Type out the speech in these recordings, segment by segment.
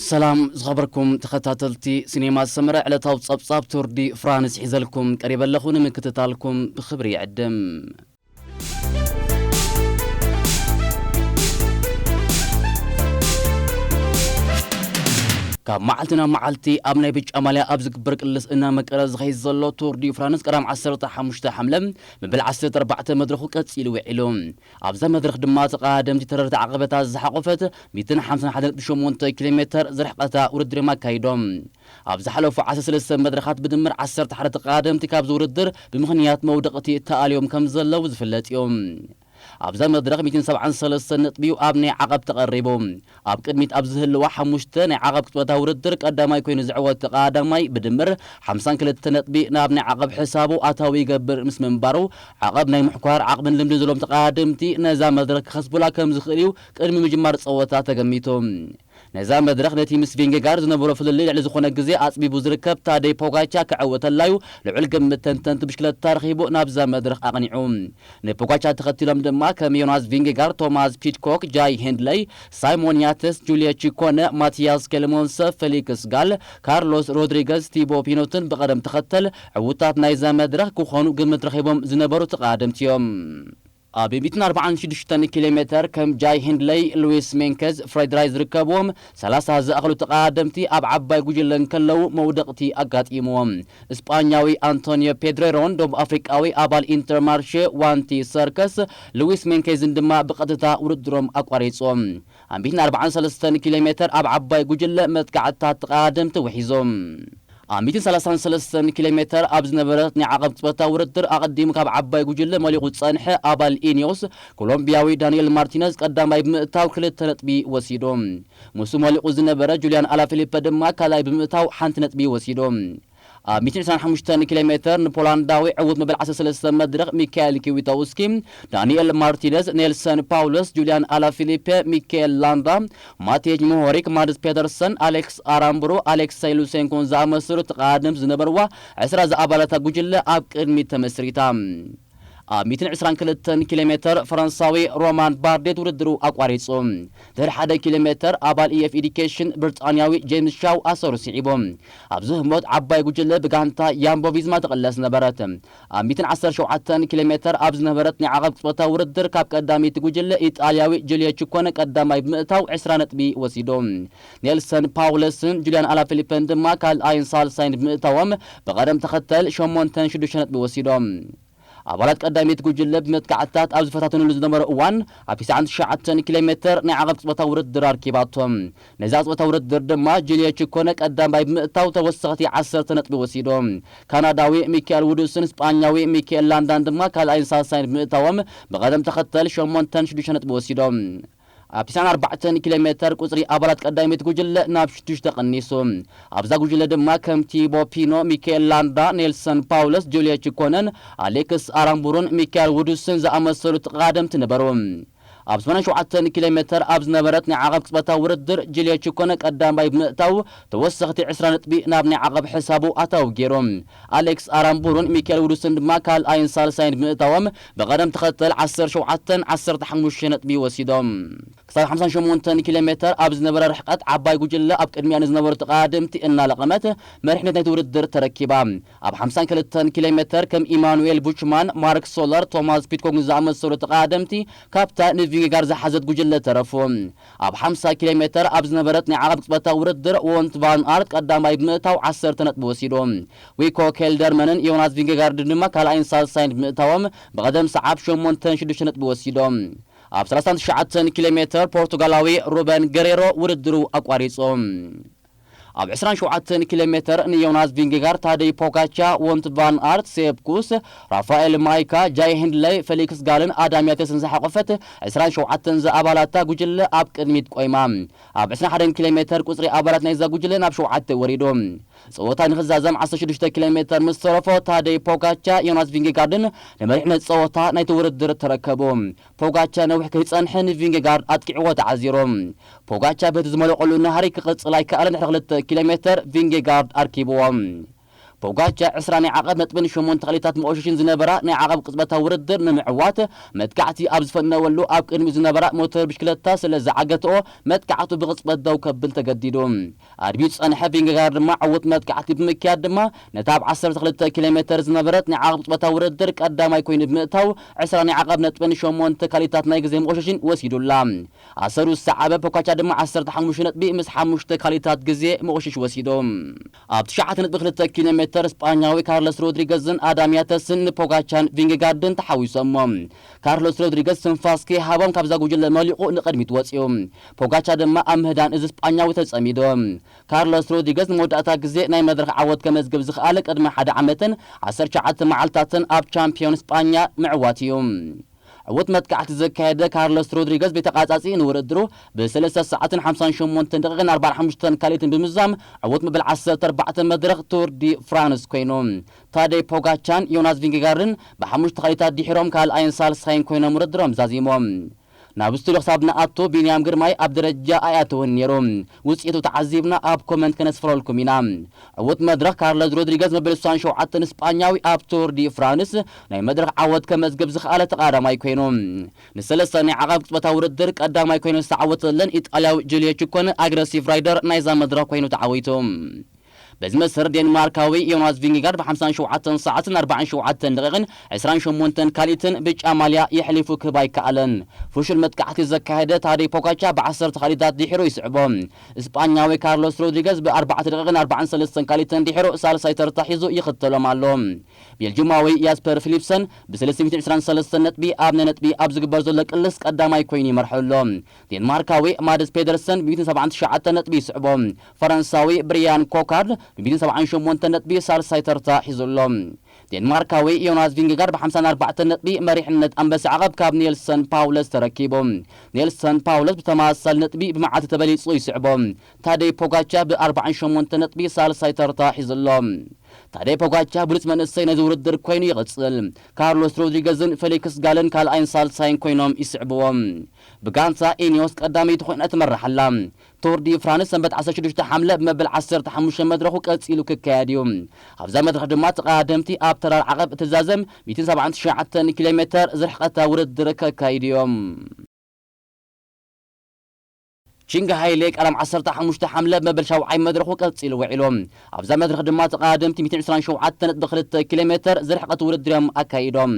ሰላም ዝኸበርኩም ተኸታተልቲ ሲኔማ ሰመረ ዕለታዊ ጸብጻብ ቱርዲ ፍራንስ ሒዘልኩም ቀሪበ ኣለኹ ንምክትታልኩም ብኽብሪ ይዕድም ካብ መዓልቲ ናብ መዓልቲ ኣብ ናይ ብጫ ማልያ ኣብ ዝግበር ቅልስ እናመቀረ ዝኸይድ ዘሎ ቱር ዲ ፍራንስ ቀዳም 15 ሓምለ መበል 14 መድረኹ ቀጺሉ ውዒሉ ኣብዛ መድረኽ ድማ ተቐዳደምቲ ተረርቲ ዓቐበታት ዝሓቖፈት ሚእትን ሓምሳን ሓደ ነጥቢ ሸሞንተ ኪሎ ሜተር ዝርሕቐታ ውድድር'ዮም ኣካይዶም። ኣብ ዝሓለፉ ዓሰርተ ሰለስተ መድረኻት ብድምር ዓሰርተ ሓደ ተቐዳደምቲ ካብዚ ውድድር ብምኽንያት መውደቕቲ ተኣልዮም ከምዘለዉ ዝፍለጥ'ዩ። ኣብዛ መድረኽ ሚእትን ሰብዓን ሰለስተን ነጥቢ'ዩ ኣብ ናይ ዓቐብ ተቐሪቡ። ኣብ ቅድሚት ኣብ ዝህልዋ ሓሙሽተ ናይ ዓቐብ ክጥበታ ውድድር ቀዳማይ ኮይኑ ዝዕወት ተቐዳዳማይ ብድምር ሓምሳን ክልተ ነጥቢ ናብ ናይ ዓቐብ ሕሳቡ ኣታዊ ይገብር ምስ ምንባሩ ዓቐብ ናይ ምሕኳር ዓቕምን ልምድን ዘለዎም ተቐዳደምቲ ነዛ መድረኽ ክኸስቡላ ከም ዝኽእል'ዩ ቅድሚ ምጅማር ጸወታ ተገሚቱ። ነዛ መድረኽ ነቲ ምስ ቪንጌጋርድ ዝነበሮ ፍልልይ ልዕሊ ዝኾነ ግዜ ኣጽቢቡ ዝርከብ ታደይ ፖጋቻ ክዕወተላ'ዩ ልዑል ግምት ተንተንቲ ብሽክለታ ረኺቡ ናብዛ መድረኽ ኣቕኒዑ። ንፖጋቻር ተኸቲሎም ድማ ከም ዮናስ ቪንጌጋር፣ ቶማስ ፒድኮክ፣ ጃይ ሄንድለይ፣ ሳይሞን ያትስ፣ ጁልየ ቺኮነ፣ ማቲያስ ኬልሞንሰ፣ ፌሊክስ ጋል፣ ካርሎስ ሮድሪገዝ፣ ቲቦ ፒኖትን ብቐደም ተኸተል ዕውታት ናይዛ መድረኽ ክኾኑ ግምት ረኺቦም ዝነበሩ ተቐዳደምቲ እዮም። ኣብ ሚእትን ኣርባዓን ሽዱሽተን ኪሎሜተር ከም ጃይ ሄንድለይ፣ ሉዊስ ሜንከዝ፣ ፍሬድ ራይት ዝርከብዎም ሰላሳ ዝኣኽሉ ተቐዳደምቲ ኣብ ዓባይ ጉጅለ እንከለዉ መውደቕቲ ኣጋጢምዎም። ስጳኛዊ ኣንቶንዮ ፔድሬሮን ደቡብ ኣፍሪቃዊ ኣባል ኢንተርማርሼ ዋንቲ ሰርከስ ልዊስ ሜንኬዝን ድማ ብቐጥታ ውድድሮም ኣቋሪጾም። ኣንቢት ን ኣርባዓን ሰለስተን ኪሎሜተር ኣብ ዓባይ ጉጅለ መጥቃዕትታት ተቐዳደምቲ ውሒዞም። ኣብ ሚእትን ሰላሳን ሰለስተን ኪሎሜተር ኣብ ዝነበረት ናይ ዓቐብ ቅጽበታዊ ውድድር ኣቐዲሙ ካብ ዓባይ ጉጅለ መሊቑ ዝጸንሐ ኣባል ኢኒዮስ ኮሎምብያዊ ዳንኤል ማርቲነዝ ቀዳማይ ብምእታው ክልተ ነጥቢ ወሲዱ። ምስኡ መሊቑ ዝነበረ ጁልያን ኣላፊሊፐ ድማ ካልኣይ ብምእታው ሓንቲ ነጥቢ ወሲዱ። ኣብ ሚእትን ዕስራን ሓሙሽተን ኪሎሜተር ንፖላንዳዊ ዕዉት መበል ዓሰርተ ሰለስተ መድረኽ ሚካኤል ኪዊቶውስኪ፣ ዳንኤል ማርቲነዝ፣ ኔልሰን ፓውለስ፣ ጁልያን ኣላፊሊፐ፣ ሚካኤል ላንዳ፣ ማትየጅ ሞሆሪክ፣ ማድስ ፔተርሰን፣ ኣሌክስ ኣራምቡሮ፣ ኣሌክሰይ ሉሴንኮን ዝኣመሰሉ ተቓዳደምቲ ዝነበርዋ ዕስራ ዝኣባላታ ጉጅለ ኣብ ቅድሚት ተመስሪታ ኣብ ሚእትን ዕስራን ክልተን ኪሎ ሜተር ፈረንሳዊ ሮማን ባርዴት ውድድሩ ኣቋሪጹ ድሕሪ ሓደ ኪሎ ሜተር ኣባል EF Education ብርጣንያዊ ጄምስ ሻው ኣሰሩ ስዒቡ ኣብዚ ህሞት ዓባይ ጉጅለ ብጋንታ ያምቦ ቪዝማ ትቕለስ ነበረት ኣብ ሚእትን ዓሰርተ ሸውዓተን ኪሎሜተር ኣብ ዝነበረት ናይ ዓቐብ ቅጽበታዊ ውድድር ካብ ቀዳመይቲ ጉጅለ ኢጣልያዊ ጁልየ ቺኮነ ቀዳማይ ብምእታው ዕስራ ነጥቢ ወሲዱ። ኔልሰን ፓውለስን ጁልያን ኣላፊሊፐን ድማ ካልኣይን ሳልሳይን ብምእታዎም ብቐደም ተኸተል ሸሞንተን ሽዱሽተ ነጥቢ ወሲዶም። ኣባላት ቀዳመይቲ ጉጅለ ብመጥቃዕትታት ኣብ ዝፈታተኑሉ ዝነበረ እዋን ኣብ ትስዓን ትሽዓተን ኪሎሜተር ናይ ዓቐብ ቅጽበታዊ ውድድር ኣርኪባቶም። ነዛ ጸወታ ውድድር ድማ ጁልዮ ቺኮነ ቀዳማይ ብምእታው ተወሰኽቲ ዓሰርተ ነጥቢ ወሲዱ። ካናዳዊ ሚካኤል ውዱስን ስጳኛዊ ሚካኤል ላንዳን ድማ ካልኣይን ሳልሳይን ብምእታዎም ብቐደም ተኸተል ሸሞንተን ሽዱሽተ ነጥቢ ወሲዶም። ኣብ ትስዓን ኣርባዕተን ኪሎ ሜተር ቁጽሪ ኣባላት ቀዳመይቲ ጉጅለ ናብ ሽዱሽተ ቀኒሱ። ኣብዛ ጉጅለ ድማ ከም ቲቦ ፒኖ፣ ሚካኤል ላንዳ፣ ኔልሰን ፓውለስ፣ ጁልዮ ቺኮነን፣ ኣሌክስ ኣራምቡሩን ሚካኤል ውዱስን ዝኣመሰሉ ተቐዳደምቲ ነበሩ። ኣብ ዝባን ሸውዓተ ኪሎ ሜተር ኣብ ዝነበረት ናይ ዓቐብ ቅጽበታዊ ውድድር ጁልዮ ቺኮነ ቀዳማይ ብምእታው ተወሰኽቲ ዕስራ ነጥቢ ናብ ናይ ዓቐብ ሕሳቡ ኣታዊ ገይሩ። ኣሌክስ ኣራምቡሩን ሚኬል ውዱስን ድማ ካልኣይን ሳልሳይን ብምእታዎም ብቐደም ተኸተል ዓሰርተ ሸውዓተን ዓሰርተ ሓሙሽተን ነጥቢ ወሲዶም። ክሳብ ሓምሳን ሸሞንተን ኪሎ ሜተር ኣብ ዝነበረ ርሕቀት ዓባይ ጉጅለ ኣብ ቅድሚኣ ንዝነበሩ ተቐዳደምቲ እናለቐመት መሪሕነት ናይቲ ውድድር ተረኪባ። ኣብ ሓምሳን ክልተን ኪሎሜተር ከም ኢማኑኤል ቡችማን፣ ማርክ ሶለር፣ ቶማስ ፒድኮግን ዝኣመሰሉ ተቐዳደምቲ ካብታ ንቪንጌጋርድ ዝሓዘት ጉጅለ ተረፉ። ኣብ ሓምሳ ኪሎሜተር ኣብ ዝነበረት ናይ ዓቐብ ቅጽበታዊ ውድድር ዎንት ቫን ኣርት ቀዳማይ ብምእታው ዓሰርተ ነጥቢ ወሲዱ። ዊኮ ኬልደርመንን ዮናስ ቪንጌጋርድን ድማ ካልኣይን ሳልሳይን ብምእታዎም ብቐደም ሰዓብ ሸሞንተን ሽዱሽተ ነጥቢ ወሲዶም። ኣብ ሰላሳን ትሽዓተን ኪሎሜተር ፖርቱጋላዊ ሩበን ገሬሮ ውድድሩ ኣቋሪጹ። ኣብ ዕስራን ሸውዓተን ኪሎሜተር ንዮናስ ቪንጌጋርድ፣ ታደይ ፖጋቻ፣ ዎንት ቫን ኣርት፣ ሴፕ ኩስ፣ ራፋኤል ማይካ፣ ጃይ ሂንድለይ፣ ፈሊክስ ጋልን ኣዳም ያቴስን ዝሓቖፈት ዕስራን ሸውዓተን ዝኣባላታ ጉጅለ ኣብ ቅድሚት ቆይማ። ኣብ ዕስራን ሓደን ኪሎሜተር ቁጽሪ ኣባላት ናይዛ ጉጅለ ናብ ሸውዓተ ወሪዱ። ጸወታ ንኽዛዘም ዓሰርተ ሽዱሽተ ኪሎሜተር ምስ ተረፎ ታደይ ፖጋቻ፣ ዮናስ ቪንጌጋርድን ንመሪሕነት ጸወታ ናይቲ ውድድር ተረከቡ። ፖጋቻ ነዊሕ ከይጸንሐ ንቪንጌጋርድ ኣጥቂዕዎ ተዓዚሩ። ፖጋቻ በቲ ዝመለቐሉ ናህሪ ክቕጽል ኣይከኣለን ድሕሪ ክልተ ኪሎ ሜተር ቪንጌጋርድ ኣርኪብዎ። ፖጋቻ ዕስራ ናይ ዓቐብ ነጥብን ሸሞንተ ክሊታት መኦሸሽን ዝነበራ ናይ ዓቐብ ቅጽበታዊ ውድድር ንምዕዋት መጥቃዕቲ ኣብ ዝፈነወሉ ኣብ ቅድሚኡ ዝነበራ ሞተር ብሽክለታ ስለ ዝዓገተኦ መጥቃዕቱ ብቕጽበት ደው ከብል ተገዲዱ። ኣድብዩ ዝጸንሐ ቪንገጋርድ ድማ ዕዉት መጥቃዕቲ ብምክያድ ድማ ነታ ኣብ ዓሰርተ ክልተ ኪሎ ሜተር ዝነበረት ናይ ዓቕብ ጾታ ውድድር ቀዳማይ ኮይኑ ብምእታው ዕስራ ናይ ዓቐብ ነጥብን ሸሞንተ ካልኢታት ናይ ግዜ መቖሸሽን ወሲዱላ። ኣሰሩ ዝሰዓበ ፖካቻ ድማ ዓሰርተ ሓሙሽተ ነጥቢ ምስ ሓሙሽተ ካልኢታት ግዜ መቖሸሺ ወሲዱ። ኣብ ትሽዓተ ነጥቢ ክልተ ኪሎ ሜተር ስጳኛዊ ካርለስ ሮድሪገዝን ኣዳም ያተስን ንፖጋቻን ቪንገጋርድን ተሓዊሶሞ። ካርሎስ ሮድሪገዝ ትንፋስ ከይሃቦም ካብዛ ጉጅለ መሊቑ ንቕድሚት ወጺኡ። ፖጋቻ ድማ ኣብ ምህዳን እዚ ስጳኛዊ ተጸሚዱ። ካርሎስ ሮድሪገዝ ንመወዳእታ ግዜ ናይ መድረኽ ዓወት ከመዝግብ ዝኸኣለ ቅድሚ ሓደ ዓመትን ዓሰርተ ትሽዓተ መዓልታትን ኣብ ቻምፕዮን ስጳኛ ምዕዋቱ'ዩ። ዕዉት መጥቃዕቲ ዘካየደ ካርሎስ ሮድሪገዝ ብተቛጻጺ ንውድድሩ ብ ሰለስተ ሰዓትን ሓምሳን ሸሞንተን ደቒቕን ኣርባዓን ሓሙሽተን ካልኢትን ብምዝዛም ዕዉት መበል ዓሰርተ ኣርባዕተ መድረኽ ቱር ዲ ፍራንስ ኮይኑ ታደይ ፖጋቻን ዮናስ ቪንገጋርድን ብሓሙሽተ ካልኢታት ዲሒሮም ካልኣይን ሳልሳይን ኮይኖም ውድድሮም ዛዚሞም ናብ ስቱድዮ ክሳብ ንኣቱ ቢንያም ግርማይ ኣብ ደረጃ ኣይኣተወን ኔሩ ውጽኢቱ ተዓዚብና ኣብ ኮመንት ከነስፍረልኩም ኢና ዕውት መድረኽ ካርለዝ ሮድሪገዝ መበል ስሳን ሸውዓተን ስጳኛዊ ኣብ ቱር ዲ ፍራንስ ናይ መድረኽ ዓወት ከመዝግብ ዝኸኣለ ተቓዳማይ ኮይኑ ንሰለስተ ናይ ዓቐብ ቅጽበታዊ ውድድር ቀዳማይ ኮይኑ ዝተዓወተለን ኢጣልያዊ ጁልየ ቹኮነ ኣግረሲቭ ራይደር ናይዛ መድረኽ ኮይኑ ተዓዊቱ። በዚ መሰረት ዴንማርካዊ ዮናስ ቪንግጋርድ ብ ሓምሳን ሸውዓተን ሰዓትን ን ኣርባዓን ሸውዓተን ደቒቕን ዕስራን ሸሞንተን ካልኢትን ብጫ ማልያ የሕሊፉ ክህብ ኣይከኣለን። ፍሹል መጥቃዕቲ ዘካየደ ታደይ ፖጋቻ ብ ዓሰርተ ካልኢታት ድሒሩ ይስዕቦ። ስጳኛዊ ካርሎስ ሮድሪገዝ ብ ኣርባዕተ ደቒቕን ኣርባዓን ሰለስተን ካልኢትን ድሒሩ ሳልሳይ ተርታ ሒዙ ይኽተሎም ኣሎ። ቤልጁማዊ ያስፐር ፊሊፕሰን ብ ሰለስተ ሚእትን ዕስራን ሰለስተን ነጥቢ ኣብ ናይ ነጥቢ ኣብ ዝግበር ዘሎ ቅልስ ቀዳማይ ኮይኑ ይመርሖ ኣሎ። ዴንማርካዊ ማድስ ፔደርሰን ብሚእትን ሰብዓን ትሽዓተን ነጥቢ ይስዕቦ። ፈረንሳዊ ብሪያን ኮካርድ ብሚእትን ሰብዓን ሸሞንተን ነጥቢ ሳልሳይ ተርታ ሒዙ ኣሎ። ዴንማርካዊ ዮናስ ቪንገጋርድ ብሓምሳን ኣርባዕተን ነጥቢ መሪሕነት ኣንበሳ ዓቐብ ካብ ኔልሰን ፓውለስ ተረኪቡ። ኔልሰን ፓውለስ ብተመሳሳሊ ነጥቢ ብመዓልቲ ተበሊጹ ይስዕቦ። ታደይ ፖጋቻር ብኣርባዓን ሸሞንተን ነጥቢ ሳልሳይ ተርታ ሒዙ ኣሎ። ታደይ ፖጋቻር ብሉጽ መንእሰይ ናይዚ ውድድር ኰይኑ ይቕጽል። ካርሎስ ሮድሪገዝን ፌሊክስ ጋልን ካልኣይን ሳልሳይን ኰይኖም ይስዕብዎ። ብጋንታ ኢኒዮስ ቀዳመይቲ ኮይና ትመርሕ ኣላ። ቱር ዲ ፍራንስ ሰንበት ዓሰርተ ሽዱሽተ ሓምለ ብመበል ዓሰርተ ሓሙሽተ መድረኹ ቀጺሉ ክካየድ እዩ። ኣብዛ መድረኽ ድማ ተቐዳደምቲ ኣብ ተራር ዓቐብ እትዛዘም ሚእትን ሰብዓን ትሽዓተን ኪሎሜተር ዝርሕቐታ ውድድር ከካይዱ እዮም። ቺንግ ሃይሌ ቀዳም ዓሰርተ ሓሙሽተ ሓምለ መበል ሻውዓይ መድረኹ ቀጺሉ ውዒሉ። ኣብዛ መድረኽ ድማ ተቐዳደምቲ ሚእትን ዕስራን ሸውዓተ ነጥቢ ክልተ ኪሎ ሜተር ዝርሕቐት ውድድር'ዮም ኣካይዶም።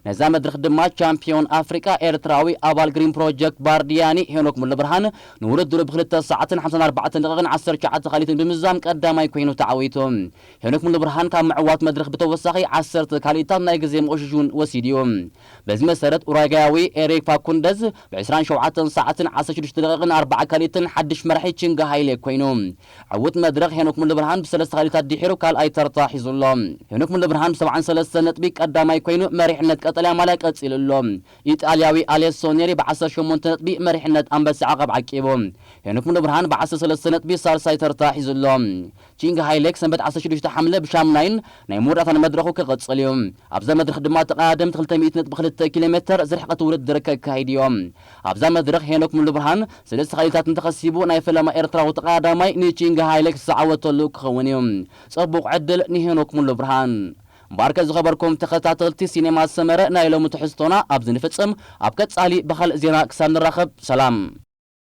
ነዛ መድረኽ ድማ ቻምፕዮን ኣፍሪቃ ኤርትራዊ ኣባል ግሪን ፕሮጀክት ባርዲያኒ ሄኖክ ሙሉብርሃን ንውድድሩ ብክልተ ሰዓትን ሓምሳን ኣርባዕተን ደቒቕን ዓሰርተ ትሽዓተ ካልኢትን ብምዝዛም ቀዳማይ ኮይኑ ተዓዊቱ። ሄኖክ ሙሉብርሃን ካብ ምዕዋት መድረኽ ብተወሳኺ ዓሰርተ ካልኢታት ናይ ግዜ መቑሽሽ'ውን ወሲዱ'ዩ። በዚ መሰረት ኡራጋያዊ ኤሪክ ፋኩንደዝ ብ ዕስራን ሸውዓተን ሰዓትን ዓሰርተ ሽዱሽተ ደቂቕን ኣርባዓ ካልኢትን ሓድሽ መራሒ ቺንግ ሃይሌ ኮይኑ። ዕውት መድረኽ ሄኖክ ሙሉብርሃን ብ ሰለስተ ካልኢታት ድሒሩ ካልኣይ ተርታ ሒዙ ኣሎ። ሄኖክ ሙሉብርሃን ብ ሰብዓን ሰለስተን ነጥቢ ቀዳማይ ኮይኑ መሪሕነት ቀጠልያ ማልያ ቀጺሉ ኣሎ። ኢጣልያዊ ኣሌሶ ኔሪ ብ ዓሰርተ ሸሞንተ ነጥቢ መሪሕነት ኣንበሳ ዓቐብ ዓቂቡ። ሄኖክ ሙሉብርሃን ብ ዓሰርተ ሰለስተ ነጥቢ ሳልሳይ ተርታ ሒዙ ኣሎ። ኪንግ ሃይሌክ ሰንበት ዓሰርተ ሽዱሽተ ሓምለ ብሻም ናይን ናይ መወዳእታ ንመድረኹ ክቕጽል እዩ። ኣብዛ መድረኽ ድማ ተቐዳደምቲ ክልተ ሚእቲ ነጥቢ ክልተ ኪሎ ሜተር ዝርሕቐት ውድድር ከካይዱ እዮም። ኣብዛ መድረኽ ሄኖክ ሙሉብርሃን ሰለስተ ኸሊታት እንተኸሲቡ ናይ ፈለማ ኤርትራዊ ተቐዳዳማይ ንኪንግ ሃይሌክ ዝዓወተሉ ክኸውን እዩ። ጸቡቕ ዕድል ንሄኖክ ሙሉብርሃን። ባርከ ዝኸበርኩም ተኸታተልቲ ሲኔማ ሰመረ ናይ ሎሚ ትሕዝቶና ኣብዚ ንፍጽም ኣብ ቀጻሊ ብኻልእ ዜና ክሳብ ንራኸብ ሰላም።